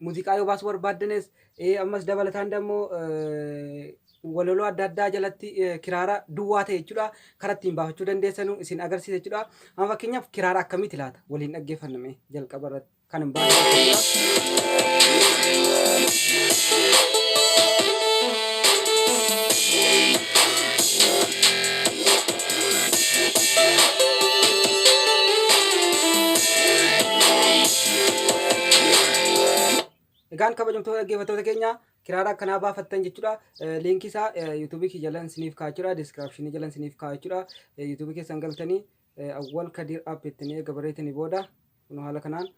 Muziqaa yoo baasuu barbaaddanes ammas dabalataan dammoo walaloo adda addaa jalatti kiraara duwwaa ta'e jechuudha. Kara ittiin baafachuu dandeessanu isin agarsiisa jechuudha. Amma fakkeenyaaf kiraara akkamiiti laata? Waliin dhaggeeffanna mee jalqaba irratti kan hin baafne. Egaan kabajamtoota dhaggeeffattoota keenya kiraara akkanaa baafattan jechuudha. Liinkii isaa yuutuubii kiyya jalan isiniif kaa'achuudha. Diskiraapshinii jalan isiniif kaa'achuudha. Yuutuubii keessan galtanii Awwal Kadiir App ittiin eega barreessanii booda Kunoo haala kanaan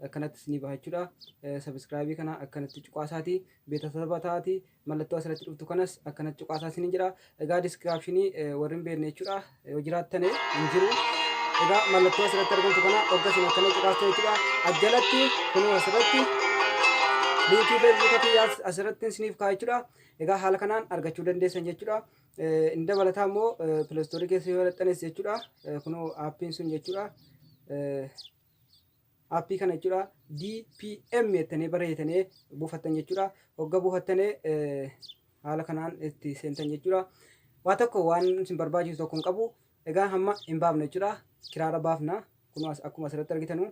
akkanatti isinii baha jechuudha. Subscribe kana akkanatti cuqaasaati beetasaba ta'aati mallattoo asirratti dhuftu kanas akkanatti cuqaasaa isiniin jedha. Egaa description warri hin beekne jechuudha yoo jiraattane hin jiru. Egaa mallattoo asirratti argamtu kana hogga isin akkana cuqaastu jechuudha. Ajjalatti kunoo asirratti liinkii feesbuuka kiyyaas asirratti isiniif kaa'a jechuudha. Egaa haala kanaan argachuu dandeessan jechuudha. Inni dabalataa immoo pilastoorii keessa yoo dhaxxanes jechuudha. Kunoo aappiin sun jechuudha. Aappii kana jechuudha DPM jettanii barreessitanii buufattan jechuudha. Hogga buufattanii haala kanaan itti seentan jechuudha. Waa tokko waan isin barbaachisu tokko hin qabu. Egaa hamma hin baafne jechuudha. Kiraara baafna. Kunoo akkuma asirratti argitanu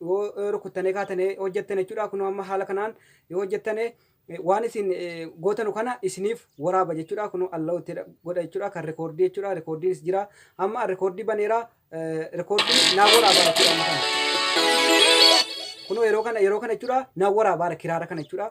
yoo rukuttanee kaatanee hojjettan jechuudha kunoo amma haala kanaan yoo hojjettane waan isin gootanu kana isiniif waraaba jechuudha kunoo allow itti godha jechuudha kan rikoordii jechuudha rikoordiinis jira amma rikoordii baneera rikoordii naa waraaba jechuudha amma kana kunoo yeroo kana yeroo kana jechuudha naa waraabaara kiraara kana jechuudha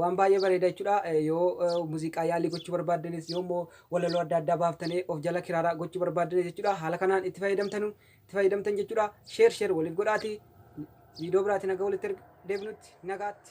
Waan baay'ee bareeda jechuudha. Yoo muuziqaa yaalii gochuu barbaaddanis yoo immoo walaloo adda addaa baaftanii of jala kiraaraa gochuu barbaaddanis jechuudha. Haala kanaan itti fayyadamtanu itti fayyadamtan jechuudha. Sheer sheer waliif godhaati. Viidiyoo biraati nagaa walitti erga deebinutti nagaatti.